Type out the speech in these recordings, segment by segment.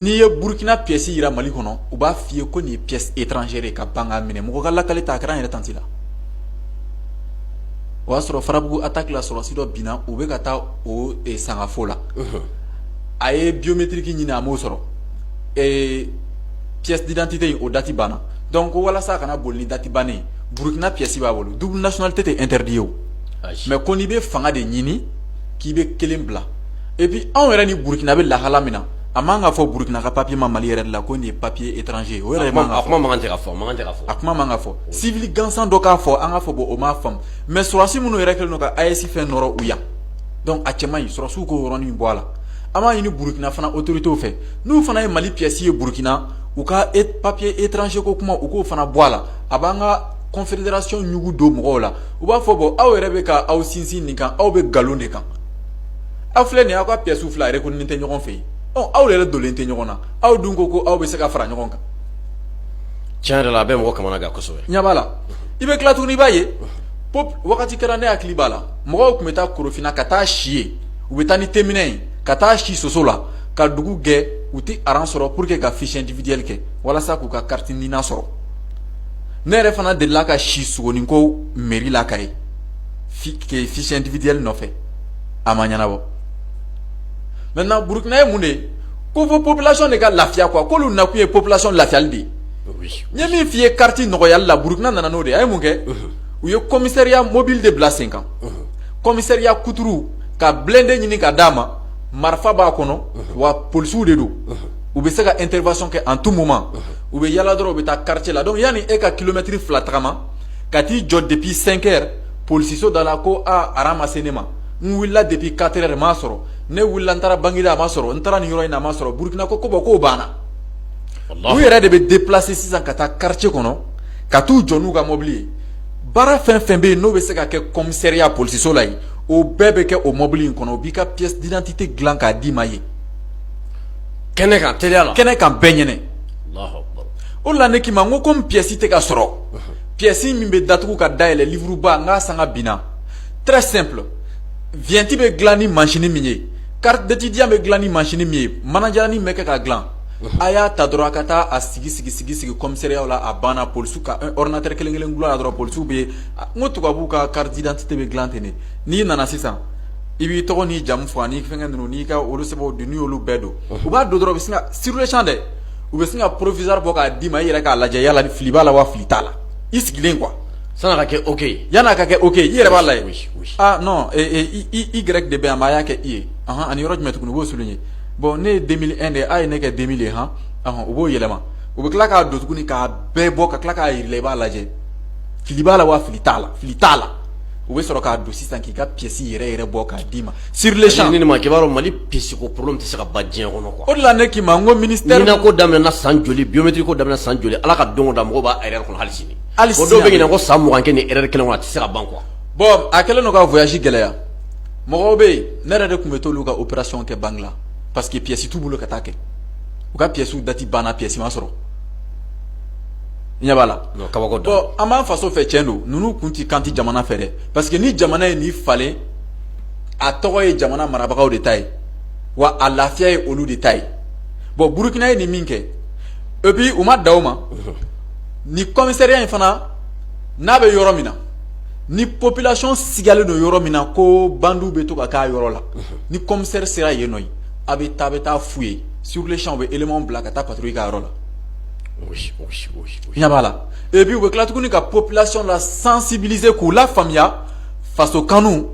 n'i ye burukina pièce jira mali kɔnɔ u b'a f'i ye ko nin ye pièce étrangère ka ban k'a minɛ mɔgɔ ka lakali tɛ a kɛra n yɛrɛ tanti la o y'a sɔrɔ farabugu attaque la sɔrɔsi dɔ binna u bɛ ka taa o sangafo la a ye biométrique ɲini a m'o sɔrɔ pièce d'identité in o date banna donc ko walasa a kana boli ni date bannen burukina pièce b'a bolo double nationalité tɛ interdit ye mais ko n'i bɛ fanga de ɲini k'i bɛ kelen bila et puis anw yɛrɛ ni burukina bɛ lahala min na a man kan ka fɔ Burukina ka papier ma Mali yɛrɛ de la ko nin ye papier étranger ye, o yɛrɛ de man kan ka fɔ, a kuma man kan ka fɔ, civil gansan dɔ k'a fɔ an k'a fɔ bon o m'a faamu mais sɔrɔsi minnu yɛrɛ kɛlen don ka AES fɛn nɔrɔ u yan donc a cɛ man ɲi sɔrɔsiw k'o yɔrɔnin bɔ a la, an b'a ɲini Burukina fana autorités fɛ n'u fana ye Mali pièce ye Burukina u ka papier étranger ko kuma u k'o fana bɔ a la, a b'an ka confédération ɲugu don mɔgɔw la, u b'a fɔ bon aw yɛrɛ bɛ ka aw sinsin nin kan aw bɛ nkalon de kan aw filɛ nin ye aw ka pièces fila yɛrɛ reconnu tɛ ɲɔgɔn fɛ yen aw yɛrɛ donlen tɛ ɲɔgɔn na aw dun ko ko aw bɛ se ka fara ɲɔgɔn kan tiɲɛ yɛrɛ la a bɛ mɔgɔ kamana gan kosɛbɛ ɲɛ b'a la i bɛ tila tuguni i b'a ye ko wagati kɛra ne hakili b'a la mɔgɔw tun bɛ taa korofina ka taa si yen u bɛ taa ni teminɛ ye ka taa si soso la ka dugu gɛ u tɛ aran sɔrɔ pour que ka fiche individuelle kɛ walasa k'u ka carte nina sɔrɔ ne yɛrɛ fana delila ka si sogoninko mairie la koyi fiche individuelle nɔfɛ a ma ɲɛnabɔ maintenant burukina ye mun de ye ko fo population de ka lafiya quoi k'olu nakun ye population lafiyali de ye n ye min f'i ye carte nɔgɔyali la burukina nana n'o de ye a ye mun kɛ u ye commissariat mobile de bila sen kan commissariat kuturu ka blindé ɲini ka d'a ma marifa b'a kɔnɔ wa polisiw de don u bɛ se ka intervention kɛ en tout moment u bɛ yaala dɔrɔn u bɛ taa quartier la donc yanni e ka kilomɛtiri fila tagama ka t'i jɔ depuis cinq heures Polisiso da la ko aran ma se ne ma n wulila depuis quatre heures ma sɔrɔ ne wulila n taara bagineda a ma sɔrɔ n taara nin yɔrɔ in na a ma sɔrɔ burukina ko bon k'o banna u yɛrɛ de bɛ déplacer sisan ka taa quartier kɔnɔ ka t'u jɔ n'u ka mɔbili ye baara fɛn fɛn bɛ yen n'o bɛ se ka kɛ commissariat polisiso la yen o bɛɛ bɛ kɛ o mɔbili in kɔnɔ o b'i ka pièce d'identité dilan k'a d'i ma yen kɛnɛ kan teliya la kɛnɛ kan bɛɛ ɲɛna o la ne k'i ma n ko komi pièce tɛ ka sɔrɔ Pièce min bɛ datugu ka dayɛlɛn livre ba n k'a sanga binna très simple vignette bɛ dilan ni machine min ye carte d'étudiant bɛ dilan ni machine min ye manajalannin bɛ kɛ ka dilan a y'a ta dɔrɔn a ka taa a sigi sigi sigi sigi commissariatw la a banna polisiw ka ordinateur kelen kelen dulon a la dɔrɔn polisiw bɛ yen n ko tubabuw ka carte d'identité bɛ dilan ten n'i nana sisan i b'i tɔgɔ n'i jamu fɔ ani fɛn ninnu n'i ka olu sɛbɛnw don n'i y'olu bɛɛ don u b'a don dɔrɔn u bɛ sin ka siruruyɛcɛn dɛ u bɛ sin ka provisoire bɔ k'a d'i ma i yɛrɛ k'a lajɛ yala ni fili b'a la wa fili t'a la i sigilen kuwa san'a ka kɛ oke yann'a ka kɛ oke i yɛrɛ b'a lajɛ igɛrɛki de bɛ yan mais a y'a kɛ i ye ani yɔrɔ jumɛn tuguni u b'o souligner bɔn ne ye deux mille un de ye a ye ne kɛ deux mille de ye hɔn u b'o yɛlɛma u bɛ tila k'a don tuguni k'a bɛɛ bɔ ka tila k'a yira i la i b'a lajɛ fili b'a la wa fili t'a la fili t'a la u bɛ sɔrɔ k'a don sisan k'i ka piyɛsi yɛrɛ yɛrɛ bɔ k'a d'i ma sur le champ ni ma k'i b'a dɔn mali piyɛsi ko problème tɛ se ka ban diɲɛ kɔnɔ kuwa o la ne k'i ma ko minisitɛri nina ko daminɛna san joli biométrique ko daminɛna san joli ala ka don o don mɔgɔw b'a erreur kɔnɔ hali sini dɔw bɛ nina ko san mugan kɛ ni erreur kelen a tɛ se ka ban kuwa bɔn a kɛlen don ka voyage gɛlɛya mɔgɔw bɛ yen ne yɛrɛ de tun bɛ t'olu ka opération kɛ banki la parce que piyɛsi t'u bolo ka taa kɛ u ka piyɛsiw dati banna piyɛsi ma sɔrɔ ɲɛ b'a la kabako don an b'an faso fɛ cɛn don ninnu kun tɛ k'an tɛ jamana fɛ dɛ parce que ni jamana ye ni falen a tɔgɔ ye jamana marabagaw de ta ye wa a lafiya ye olu de ta ye bon burukina ye nin min kɛ et puis u ma dan o ma ni kɔmisariya in fana n'a bɛ yɔrɔ min na ni population sigalen don yɔrɔ min na ko bandiw bɛ to ka k'a yɔrɔ la ni kɔmisɛri sera yen nɔ a bɛ taa bɛ taa f'u ye sur le champ u bɛ élémentw bila ka taa patrouille k'a yɔrɔ la ɲɛ b'a la et puis u bɛ tila tuguni ka population la sensibiliser k'u lafaamuya faso kanu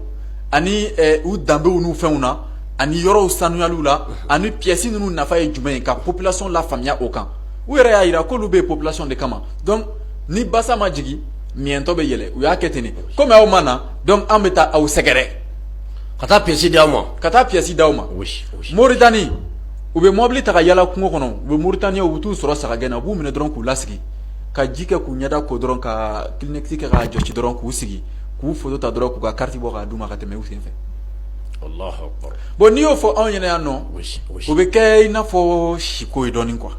ani u danbew n'u fɛnw na ani yɔrɔw sanuyali la ani piyɛsi ninnu nafa ye jumɛn ye ka population lafaamuya o kan u yɛrɛ y'a jira k'olu bɛ population de kama donc ni basa ma jigin miyɛtɔ bɛ yɛlɛ u y'a kɛ ten kɔmi aw ma na an bɛ taa aw sɛgɛrɛ ka taa piyɛsi di aw ma moritani u bɛ mɔbili ta ka yala kungo kɔnɔ u bɛ moritaniyɛnw u bɛ t'u sɔrɔ sagagɛn na u b'u minɛ dɔrɔn k'u lasigi ka ji kɛ k'u ɲɛda ko dɔrɔn ka kleenex kɛ k'a jɔsi dɔrɔn k'u sigi k'u foto ta dɔrɔn k'u ka kariti bɔ k'a d'u ma ka tɛmɛ u sen fɛ allahu akbar bon n'i y'o fɔ anw ɲɛna yan nɔ o bɛ kɛ i n'a fɔ siko ye dɔɔnin kuwa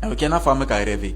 a bɛ kɛ n'a fɔ an bɛ ka rêver